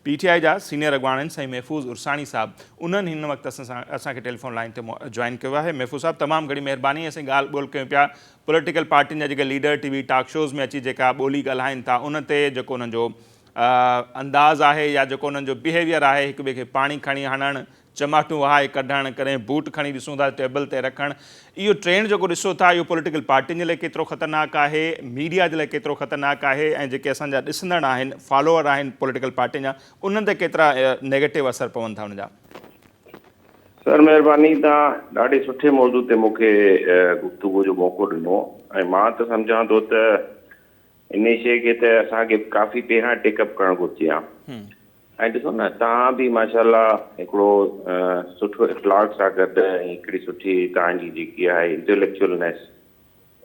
P T I جا سينئر اڳواڻن سائين محفوظ عرساڻي صاحب انهن هن وقت اسان کي ٽيليفون لائين تي جوائن ڪيو آهي محفوظ صاحب تمام گهڻي مهرباني اسين ڳالهه ٻولهه ڪيون پيا پوليٽيڪل پارٽين جا جيڪي leader T V talk shows ۾ اچي جيڪا ٻولي ڳالهائين ٿا ان تي جيڪو انهن جو انداز آهي يا جيڪو انهن جو بهيويئر آهي هڪ ٻئي کي پاڻي کڻي هڻڻ چماٽون وهائي ڪڍڻ، ڪڏهن بوٽ کڻي ڏسون ٿا ته ٽيبل تي رکڻ، اهو ٽرينڊ جيڪو ڏسو ٿا اهو پوليٽيڪل پارٽين جي لاء ڪيترو خطرناڪ آهي، ميڊيا جي لاء ڪيترو خطرناڪ آهي ۽ جيڪي اسان جا ڏسندڙ آهن، فالوور آهن پوليٽيڪل پارٽين جا انهن تي ڪيترا نيگيٽو اثر پون ٿا ان جا؟ سر مهرباني توهان ڏاڍي سٺي موضوع تي مون کي گفتگو جو موقعو ڏنو ۽ مان ته سمجهان ٿو ته انهي شيء کي ته اسان کي ڪافي پهريان ٽيڪ اپ ڪرڻ گهرجي ها ۽ ڏسو نه توهان به ماشاء الله هڪڙو سٺو اخلاق سان گڏ ۽ هڪڙي سٺي توهان جي جيڪي آهي انٽيليڪچوئلنيس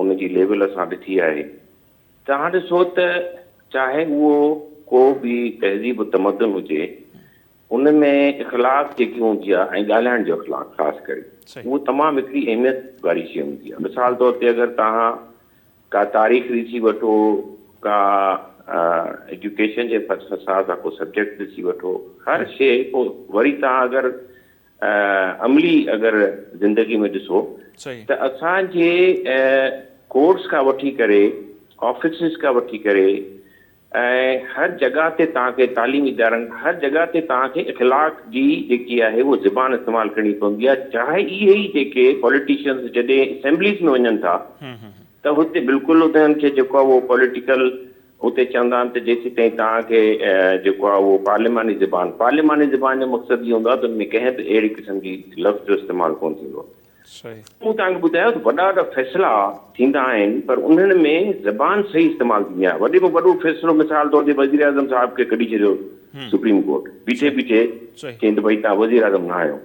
ان جي ليول اسان ڏٺي آهي توهان ڏسو ته چاهي اهو ڪو به تهذيب و تمدن هجي ان ۾ اخلاق جيڪي هوندي آهي ۽ ڳالهائڻ جو اخلاق خاص ڪري اهو تمام هڪڙي اهميت واري شيء هوندي آهي مثال طور تي اگر توهان ڪا تاريخ ڏسي وٺو، ڪا ايجوڪيشن جي حساب سان ڪو سبجيڪٽ ڏسي وٺو، هر شيء پوء وري توهان اگر عملي اگر زندگي ۾ ڏسو ته اسان جي ڪورٽس کان وٺي ڪري آفيسز کان وٺي ڪري ۽ هر جڳهه تي توهان کي تعليمي ادارن هر جڳهه تي توهان کي اخلاق جي جيڪي آهي اهو زبان استعمال ڪرڻي پوندي آهي چاهي اهي ئي جيڪي پوليٽيشنز جڏهن اسيمبليز ۾ وڃن ٿا ته هتي بلڪل انهن کي جيڪو آهي اهو پوليٽيڪل اتي چوندا آهن ته جيسيتائين توهان کي جيڪو آهي اهو پارليماني زبان پارليماني زبان جو مقصد اهو هوندو آهي ته ان ۾ ڪنهن به اهڙي قسم جي لفظ جو استعمال ڪونه ٿيندو آهي صحيح. مون توهان کي ٻڌايو ته وڏا وڏا فيصلا ٿيندا آهن پر انهن ۾ زبان صحيح استعمال ٿيندي آهي وڏي ۾ وڏو فيصلو مثال طور تي وزيراعظم صاحب کي ڪڍي ڇڏيو سپريم ڪورٽ بيٺي بيٺي چئين ته ڀئي توهان وزيراعظم نه آهيو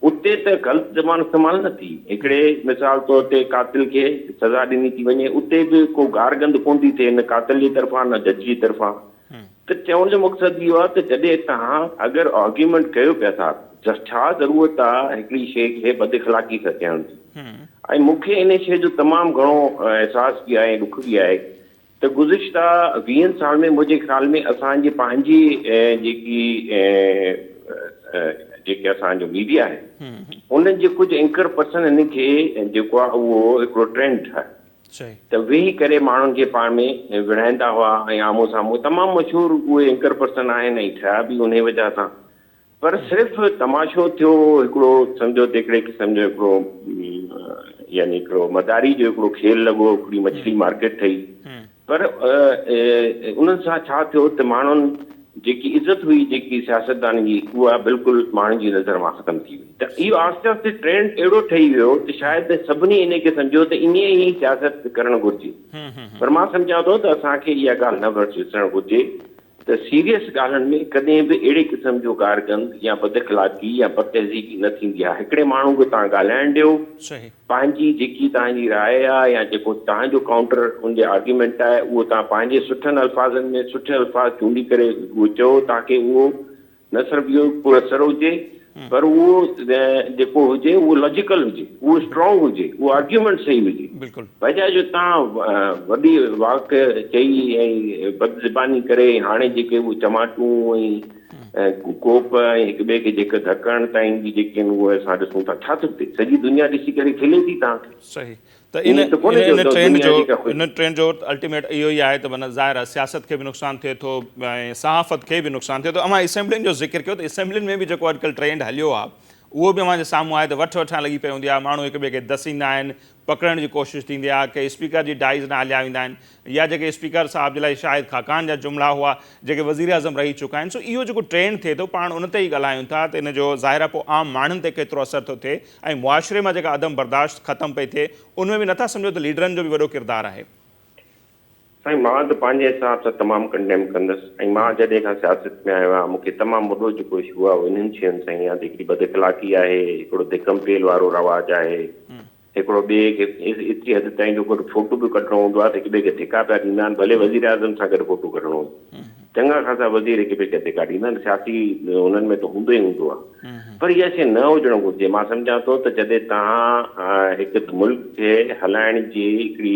اتي ته غلط زبان استعمال نه ٿي هڪڙي مثال طور تي قاتل کي سزا ڏني ٿي وڃي اتي به ڪو گار گند ڪونه ٿي ٿئي نه قاتل جي طرفان نه جج جي طرفان ته چوڻ جو مقصد اهو آهي ته جڏهن توهان اگر آرگيومينٽ ڪيو پيا ٿا ته ڇا ضرورت آهي هڪڙي شيء کي بد اخلاقي سان چئڻ جي ۽ مون کي ان شيء جو تمام گهڻو احساس به آهي ۽ ڏک به آهي ته گذشته ويهن سال ۾ منهنجي خيال ۾ اسان جي پنهنجي جيڪي جيڪي اسان جو ميڊيا آهي انهن جي ڪجهه اينڪر پرسن ان کي جيڪو آهي اهو هڪڙو ٽرينڊ ٺاهيو چئي. ته ويهي ڪري ماڻهن کي پاڻ ۾ وڙهائيندا هئا ۽ آمهون سامهون تمام مشهور اهي اينڪر پرسن آهن ۽ ٺهيا به انهي وجهه سان پر صرف تماشو ٿيو هڪڙو سمجهو تڪڙي قسم جو هڪڙو يعني هڪڙو مداري جو هڪڙو کيل لڳو هڪڙي مڇلي مارڪيٽ ٺهي پر انهن سان ڇا ٿيو ته ماڻهن جيڪي عزت هئي جيڪي سياستدانن جي اها بلڪل ماڻهن جي نظر مان ختم ٿي وئي ته اهو آهستي آهستي ٽرينڊ اهڙو ٺهي ويو ته شايد سڀني انهي کي سمجهيو ته ائين ئي سياست ڪرڻ گهرجي پر مان سمجهان ٿو ته اسان کي اها ڳالهه نه وسرڻ گهرجي ته سيريس ڳالهن ۾ ڪڏهن به اهڙي قسم جو گارگند يا بداخلاقي يا بدتهذيبي نه ٿيندي آهي هڪڙي ماڻهو کي توهان ڳالهائڻ ڏيو پنهنجي جيڪي توهان جي راء آهي يا جيڪو توهان جو ڪائونٽر ان جي آرگيومينٽ آهي اهو توهان پنهنجي سٺن الفاظن ۾ سٺي الفاظ چونڊي ڪري اهو چئو تاڪي اهو نه صرف اهو پر اثر هجي پر اهو جيڪو هجي اهو لاجيڪل هجي اهو اسٽرانگ هجي اهو آرگيومينٽ صحيح هجي بجاء جو توهان وڏي واڪ چئي ۽ بد زباني ڪري هاڻي جيڪي اهو چماٽون ۽ ڪوپ ۽ هڪ ٻئي کي جيڪ ڌڪڻ تائين جي جيڪي آهن اهي اسان ڏسون ٿا ڇا ٿو ٿئي سڄي دنيا ڏسي ڪري کلي ٿي توهان کي. صحيح ته ان ان ٽرينڊ جو ان ٽرينڊ جو الٽيميٽ اهو ئي آهي ته معنيٰ ظاهر آهي سياست کي به نقصان ٿئي ٿو ۽ صحافت کي به نقصان ٿئي ٿو اوهان اسيمبلين جو ذڪر ڪيو ته اسيمبلين ۾ به جيڪو اڄڪلهه ٽرينڊ هليو آهي اهو به اوهان جي سامهون آهي ته وٺ وٺان لڳي پئي هوندي آهي ماڻهو هڪ ٻئي کي دسيندا آهن پڪڙڻ جي ڪوشش ٿيندي آهي ڪي اسپيڪر جي ڊائز نه هليا ويندا آهن يا جيڪي اسپيڪر صاحب جي لاء شاهد خاقان جا جملا هئا جيڪي وزير اعظم رهي چڪا آهن سو اهو جيڪو ٽرينڊ ٿئي ٿو پاڻ ان تي ئي ڳالهايون ٿا ته ان جو ظاهر آهي پوء عام ماڻهن تي ڪيترو اثر ٿو ٿئي ۽ معاشري مان جيڪا عدم برداشت ختم پئي ٿئي ان ۾ به نٿا سمجهو ته ليڊرن جو به وڏو ڪردار آهي. سائين مان ته پنهنجي حساب سان تمام ڪنڊيم ڪندس ۽ مان جڏهن کان سياست ۾ آيو آهيان مون کي تمام وڏو جيڪو اشو آهي اهو انهن شين سان هي يا ته هڪڙي بد اخلاقي آهي هڪڙو ڌڪم پيل وارو رواج آهي هڪڙو ٻئي کي ايتري حد تائين جو گڏ فوٽو به ڪڍڻو هوندو آهي ته هڪ ٻئي کي ڌڪا پيا ڏيندا آهن ڀلي وزير اعظم سان گڏ فوٽو ڪڍڻو هجي چڱا خاصا وزير هڪ ٻئي کي ڌڪا ڏيندا آهن سياسي انهن ۾ ته هوندو ئي هوندو آهي پر اها شي نه هجڻ گهرجي مان سمجهان ٿو ته جڏهن توهان هڪ ملڪ کي هلائڻ جي هڪڙي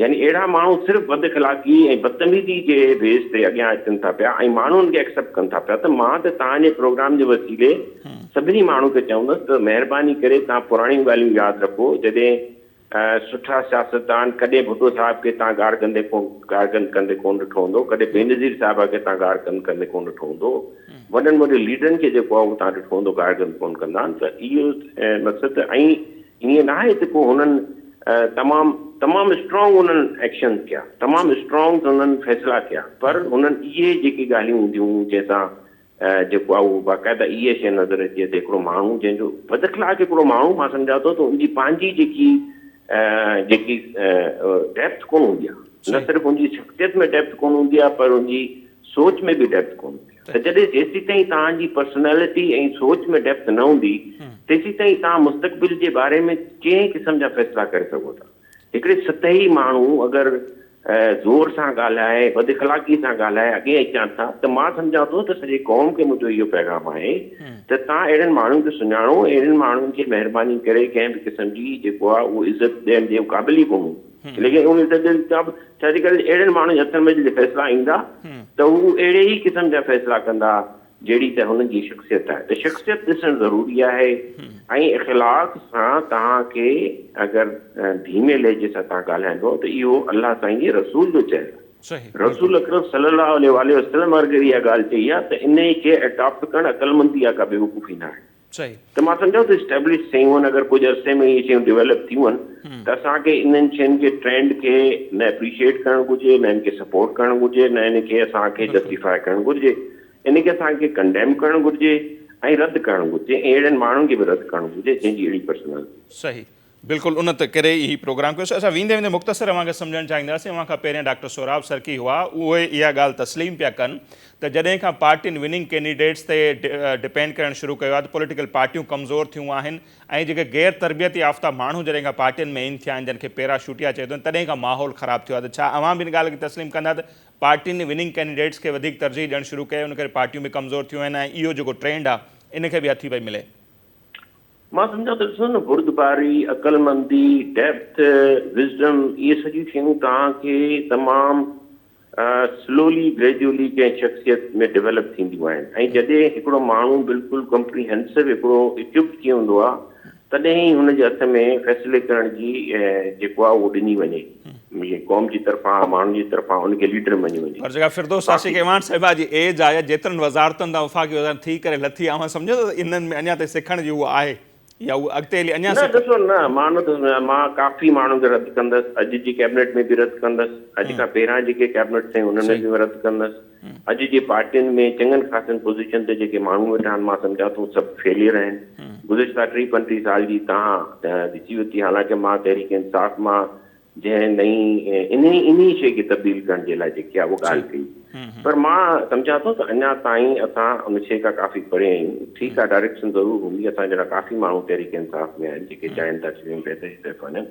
يعني اهڙا ماڻهو صرف بد اخلاقي ۽ بدتميزي جي بيس تي اڳيان اچن ٿا پيا ۽ ماڻهو ان کي اڪسيپٽ ڪن ٿا پيا ته مان ته توهان جي پروگرام جي وسيلي سڀني ماڻهن کي چوندس ته مهرباني ڪري توهان پراڻيون ڳالهيون ياد رکو جڏهن سٺا سياستدان ڪڏهن ڀٽو صاحب کي توهان گار ڪندي ڪون گار ڪن ڪندي ڪون ڏٺو هوندو ڪڏهن بينظير صاحب کي توهان گار ڪن ڪندي ڪون ڏٺو هوندو وڏن وڏن ليڊرن کي جيڪو آهي اهو توهان ڏٺو هوندو گار ڪن ڪون ڪندا آهن ته اهو مقصد ۽ ائين ناهي ته ڪو هنن تمام تمام اسٽرانگ هنن ايڪشنز ڪيا تمام اسٽرانگ هنن فيصلا ڪيا پر هنن اهي جيڪي ڳالهيون هونديون جنهن سان جيڪو آ اهو باقاعده اهي شي نظر اچي ته هڪڙو ماڻهو جنهن جو بد اخلاق هڪڙو ماڻهو مان سمجهان ٿو ته ان جي پنهنجي جيڪي جيڪي ڊيپٿ ڪونه هوندي آ نه صرف ان جي شخصيت ۾ ڊيپٿ ڪونه هوندي آ پر ان جي سوچ ۾ به ڊيپٿ ڪونه هوندي ته جڏهن جيسيتائين توهان جي پرسنالٽي ۽ سوچ ۾ ڊيپٿ نه هوندي تيسيتائين توهان مستقبل جي باري ۾ ڪنهن قسم جا فيصلا ڪري سگهو ٿا. هڪڙي سطحي ماڻهو اگر زور سان ڳالهائي، بد اخلاقي سان ڳالهائي اڳين اچان ٿا ته مان سمجهان ٿو ته سڄي قوم کي منهنجو اهو پيغام آهي ته توهان اهڙن ماڻهن کي سڃاڻو ۽ اهڙن ماڻهن کي مهرباني ڪري ڪنهن به قسم جي جيڪو آهي اهو عزت ڏيڻ جي قابل ئي ڪونهون. ليڪن ان تي ٻين سڀ ٿيريڪل اهڙن ماڻهن جي هٿن ۾ جڏهن فيصلا ايندا ته هو اهڙي ئي قسم جا فيصلا ڪندا جهڙي ته هنن جي شخصيت آهي ته شخصيت ڏسڻ ضروري آهي ۽ اخلاق سان توهان کي اگر ڌيمي لهجي سان توهان ڳالهائيندو ته اهو الله سائين جي رسول جو چيل آهي رسول اڪرم صلي الله عليه واٰله وسلم اگر اها ڳالهه چئي آهي ته انهي کي اڊاپٽ ڪرڻ عقلمندي آهي ڪا بيوقوفي نه آهي. چئي. ته مان سمجهان ٿو اسٽيبلش شيون آهن اگر ڪجهه عرصي ۾ اهي شيون ڊيولپ ٿيون ته اسان کي انهن شين جي ٽرينڊ کي نه اپريشيئيٽ ڪرڻ گهرجي نه ان کي سپورٽ ڪرڻ گهرجي نه ان کي اسان کي جسٽيفائي ڪرڻ گهرجي ان کي اسان کي ڪنڊيم ڪرڻ گهرجي ۽ رد ڪرڻ گهرجي ۽ اهڙن ماڻهن کي به رد ڪرڻ گهرجي جنهن جي اهڙي پرسنالٽي صحيح. بلڪل ان ته ڪري ئي هي پروگرام ڪيو سي اسان ويندي ويندي مختصر اوهان کي سمجهڻ چاهينداسين اوهان کان پهريان ڊاڪٽر سهراب سرڪي هئا اهي اها ڳالهه تسليم پيا ڪن ته جڏهن کان پارٽين وننگ ڪينڊيڊيٽس تي ڊپينڊ ڪرڻ شروع ڪيو آهي ته پوليٽيڪل پارٽيون ڪمزور ٿيون آهن ۽ جيڪي غير تربيت يافته ماڻهو جڏهن کان پارٽين ۾ ان ٿيا آهن جن کي پيراشوٽيا چئي ٿو تڏهن کان ماحول خراب ٿيو آهي ته ڇا اوهان به ان ڳالهه کي تسليم ڪندا ته پارٽين وننگ ڪينڊيڊيٽس کي وڌيڪ ترجيح ڏيڻ شروع ڪئي ان ڪري پارٽيون به ڪمزور ٿيون آهن ۽ اهو جيڪو ٽرينڊ آهي ان کي به هٿي پئي ملي مان سمجهان ٿو ڏسو نه بردباري، عقلمندي، Depth، Wisdom اهي سڄيون شيون توهان کي تمام Slowly Gradually ڪنهن شخصيت ۾ Develop ٿينديون آهن ۽ جڏهن هڪڙو ماڻهو بلڪل Comprehensive هڪڙو Equipped ٿي هوندو آهي تڏهن ئي هن جي هٿ ۾ فيصلي ڪرڻ جي جيڪو آهي اهو ڏني وڃي. مينهن قوم جي طرفان ماڻهن جي طرفان ان کي ليڊر مڃيو وڃي. هر جڳهه فردوس عاشق ايوان صاحبه جي ايج آ يا جيترن وزارتن تان وفاقي وزارت ٿي ڪري لٿي آ اوهان سمجهو ٿا ته انهن ۾ اڃا تائين سکڻ جي هو آهي يا هو اڳتي هلي اڃا نه سکن. ڏسو نه مان نه ٿو سمجهان مان ڪافي ماڻهن کي رد ڪندس اڄ جي ڪيبنيٽ ۾ به رد ڪندس اڄ کان پهريان جيڪي ڪيبنيٽ سين انهن ۾ صحيح. به رد ڪندس. اڄ جي پارٽين ۾ چڱن خاصن پوزيشن تي جيڪي ماڻهو ويٺا آهن مان سمجهان ٿو سڀ فيليئر آهن. گذشته ٽي پنٽيهه سال جي تاهه ڏسي ورتي حالانڪه مان تحريڪ انصاف مان جنهن نئين انهي انهي شيء کي تبديل ڪرڻ جي لاء جيڪي آهي اهو ڳالهه ڪئي پر مان سمجهان ٿو ته اڃا تائين اسان ان شيء کان ڪافي پري آهيون ٺيڪ آهي ڊائريڪشن ضرور هوندي اسان جهڙا ڪافي ماڻهو تحريڪ انصاف ۾ آهن جيڪي چاهين ٿا چونڊ تي جتي به وڃن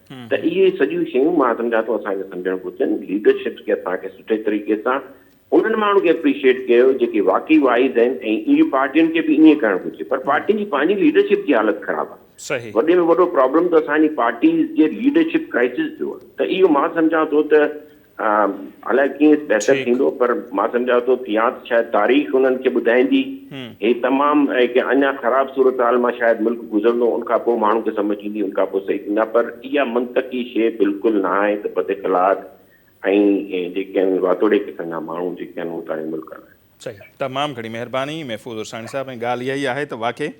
ته اهي سڄيون شيون مان سمجهان ٿو اسان کي سمجهڻ گهرجن ليڊرشپ کي اسان کي سٺي طريقي سان انهن ماڻهن کي اپريشيئيٽ ڪيو جيڪي واقعي وائيز آهن ۽ اهي پارٽين کي به ائين ڪرڻ گهرجي پر پارٽين جي پنهنجي ليڊرشپ جي حالت خراب آهي وڏي ۾ وڏو پرابلم ته اسان جي پارٽيز جي ليڊرشپ ڪرائسز جو آهي ته اهو مان سمجهان ٿو ته الائي ڪيئن بهتر ٿيندو پر مان سمجهان ٿو ته يا ته شايد تاريخ انهن کي ٻڌائيندي هي تمام هڪ اڃا خراب صورتحال مان شايد ملڪ گذرندو ان کان پوء ماڻهن کي سمجهه ايندي ان کان پوء صحيح ٿيندا پر اها منطقي شيء بلڪل نه آهي ته پد اخلاق ۽ جيڪي آهن اهي واتوڙي قسم جا ماڻهو جيڪي آهن اهو تاريخ ملڪ هلائين. صحيح تمام گهڻي مهرباني محفوظ عرساڻي صاحب ۽ ڳالهه اها ئي آهي ته واقعي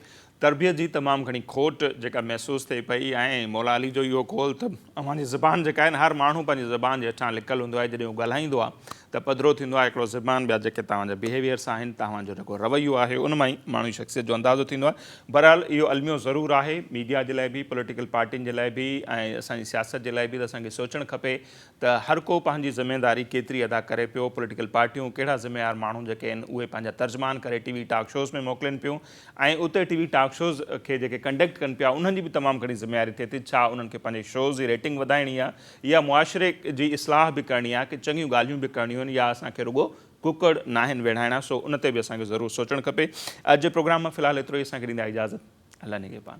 تربيت جي تمام گهڻي کوٽ جيڪا محسوس ٿئي پئي ۽ مولا علي جو اهو قول ته اوهان جي زبان جيڪا آهي نه هر ماڻهو پنهنجي زبان جي هيٺان لڪل هوندو آهي جڏهن هو ڳالهائيندو آهي ته پڌرو ٿيندو آهي هڪڙو زبان ٻيا جيڪي توهان جا بيهيويئرس آهن توهان جو جيڪو رويو آهي ان مان ئي ماڻهو جي شخصيت جو اندازو ٿيندو آهي بهرحال اهو الميو ضرور آهي ميڊيا جي لاء به پوليٽيڪل پارٽين جي لاء به ۽ اسان جي سياست جي لاء به ته اسان کي سوچڻ کپي ته هر ڪو پنهنجي ذميواري ڪيتري ادا ڪري پيو، پوليٽيڪل پارٽيون ڪهڙا ذميوار ماڻهو جيڪي آهن اهي پنهنجا ترجمان ڪري ٽي وي ٽاڪ شوز ۾ موڪلين پيون ۽ اتي ٽي وي ٽاڪ شوز کي جيڪي ڪنڊڪٽ ڪن پيا انهن جي به تمام گهڻي ذميواري ٿئي ٿي ڇا انهن کي پنهنجي شوز جي ريٽنگ وڌائڻي آهي يا معاشري جي اصلاح به ڪرڻي آهي ڪي چڱيون ڳالهيون به ڪرڻيون آهن يا اسان کي رڳو ڪڪڙ ناهن ويڙهائڻا سو ان تي به اسان کي ضرور سوچڻ کپي اڄ جي پروگرام مان في الحال ايترو ئي اسان کي ڏيندا اجازت. الله نگهبان.